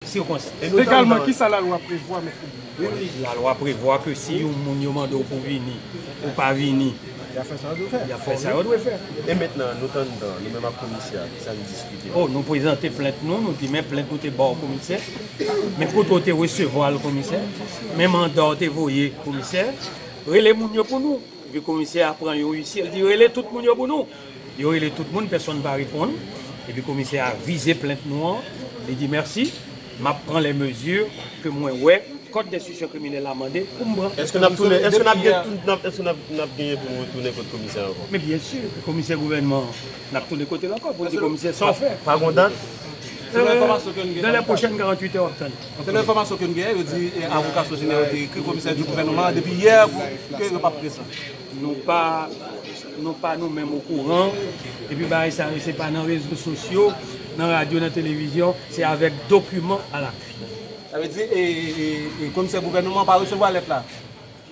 sikonstans. Legalman, ki sa lalwa prevwa, Mèt Fedilè? Lalwa prevwa ke si yon moun yo mande w pou w vini, ou pa vini, y ap fè sa yo dwe fè. Y ap fè sa yo dwe fè. E mentnan, nou tann dan, nou menm ak komisè a, ki sa n diskite? O, nou prezante plent nou, nou di men plent ou te ba w komisè, men kote w te resevwa l komisè, men manda w te voye komisè, rele moun yo pou nou. Epi komisè a pran yon uisye, l di rele tout moun yo pou nou. Yo rele tout moun, pèsonn pa reponn. Epi komisè a vize plent nou an, li di mèsi, m ap pran lè mezi ke mwen wè kòd denstisyon kriminèl la mande pou m pran. Èske n ap tounen, èske n ap gen, èske n ap genyen pou nou retounen kot komisè a ankò? Men byensi, komisè gouvènman an, n ap tounen kote l ankò pou l di komisè sa w fè. Pa gon dat? Se nan enfòmasyon ke n gen. Nan lè pwochèn 48 è w ap tann. Selon enfòmasyon ke n gen, yo di avoka Sogener yo te ekri komisè di gouvènman an depi yè ke yo pa p prezan. Nou pa nou pa nou menm okouran, epi bagay sa yo se pa nan rezo sosyo, nan radyo, nan televizyon, se avèk dokiman a lapui. Sa vle di komisè gouvènman an pa resevwa lèt la?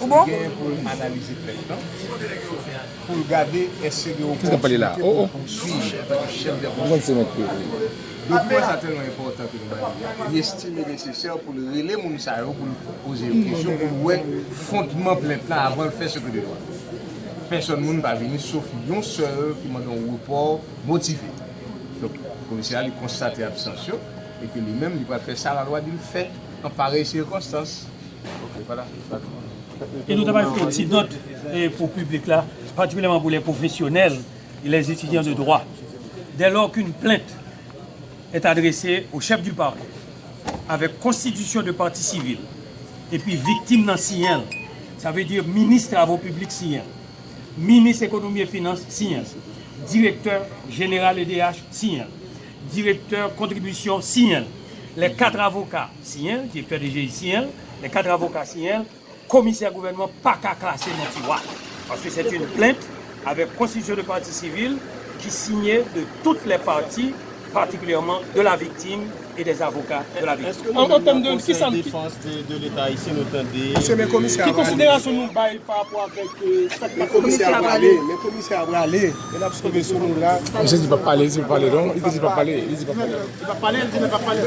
Ou bon? Gen pou l analize plent lan pou l gade èske gen opòtinite pou l pouswiv antanke chèf dè pwojè. Dokiman sa tèlman enpòtan ke nou ba li a, li estime nesesè pou l rele moun sa yo pou l poze yo kesyon pou l wè fondman plent lan avan l fè seke de lwa. Pèsòn moun pa vini sof yon sèl ki mande yon repò motive. Donk, komisè a li konstate absans yo e ke li menm li pral fè sa lalwa di l fè an parèy sikonstans. E nou ta pral fè yon ti nòt pou piblik la, patikilyèman pou lè pwofesyonèl e lè etidyan de dwa. Dè lò k'un plent è adrese o chèf di pakè avè konstitisyon de pati sivil epi viktim nan siyen l, sa vle di minis travo piblik siyen l, minis ekonomi e finans siyen l, direktè jeneral edh siyen l, direktè kontribisyon siyen l, lè 4 avoka. siyen l, direktè DGI siyen l, lè 4 avoka siyen l, komisè gouvènman pa ka klase non ti wa. Paske sèt yn plent avèk konstitisyon de pati sivil ki siyen de tout lè pati, patikilyèman de la viktim e dè avoka de la viktim. An an tèm de kisa n. Mesye men komisè a prale. Men komisè a prale, men komisè a prale, men lap sove sou nou la. Misye di pap pale, li di pap pale non, li te di pap pale, li di pap pale.